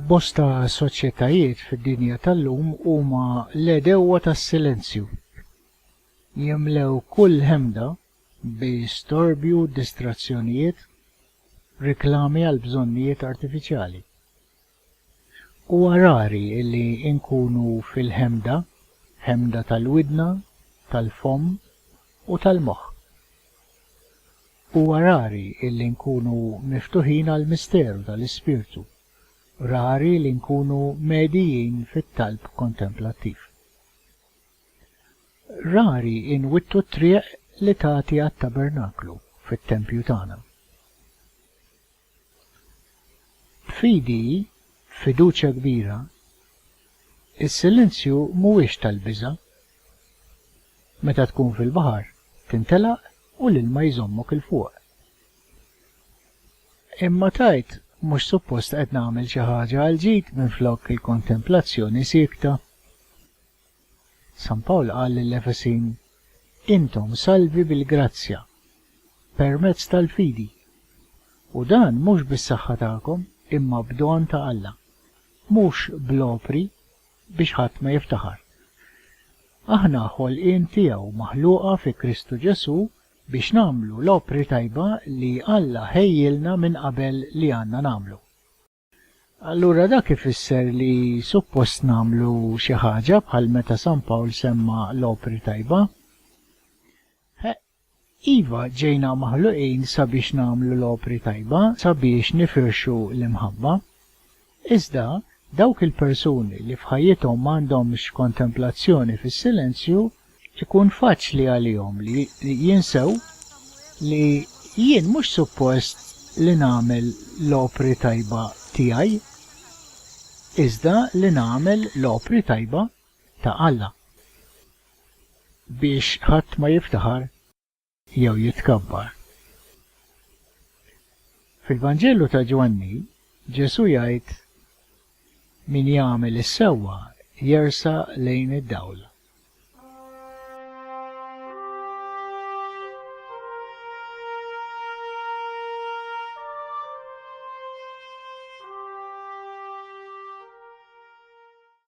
Bosta soċjetajiet fid-dinja tal-lum huma l-għedewwa tas-silenzju. Jimlew kull ħemda bi storbju, distrazzjonijiet, riklami għal bżonnijiet artifiċjali. Huwa rari li nkunu fil-ħemda, ħemda tal-widna, tal-fomm u tal-moħħ. Huwa rari li nkunu miftuħin għall-misteru tal-Ispirtu, rari li nkunu medijin fit-talb kontemplattiv. Rari nwittu t-triq li tagħti għat-tabernaklu fit-tempju tagħna. Fidi, f'fiduċja kbira, is-silenzju mhuwiex tal-biża'. Meta tkun fil-baħar, tintelaq u l-ilma jżommok 'il fuq. Imma tgħid, 'Mhux suppost qed nagħmel xi ħaġa għall-ġid minflok il-kontemplazzjoni siekta? San Pawl qal lill-Efesin, Intom salvi bil-grazzja, permezz tal-fidi, u dan mhux bis-saħħa tagħkom, imma b'don ta' Alla, mhux bl-opri, biex ħadd ma jiftaħar. Aħna ħolqien tiegħu maħluqa fi Kristu Ġesù biex nagħmlu l-opri tajba li Alla ħejjielna minn qabel li għandna nagħmlu. Allura dak ifisser li suppost nagħmlu xi ħaġa bħal meta San Pawl semma l-opri tajba? Heq, iva, ġejna maħluqin sabiex nagħmlu l-opri tajba, sabiex nifirxu l-imħabba. Iżda, dawk il-persuni li f'ħajjithom m'għandhomx kontemplazzjoni fis-silenzju Ikun faċli għalihom li jinsew li jien mhux suppost li nagħmel l-opri tajba tiegħi, iżda li nagħmel l-opri tajba ta' Alla, biex ħadd ma jiftaħar. jew jitkabbar. Fil-Vanġelu ta' Ġwanni, Ġesù jgħid, Min jagħmel is-sewwa jersa' lejn id-dawl.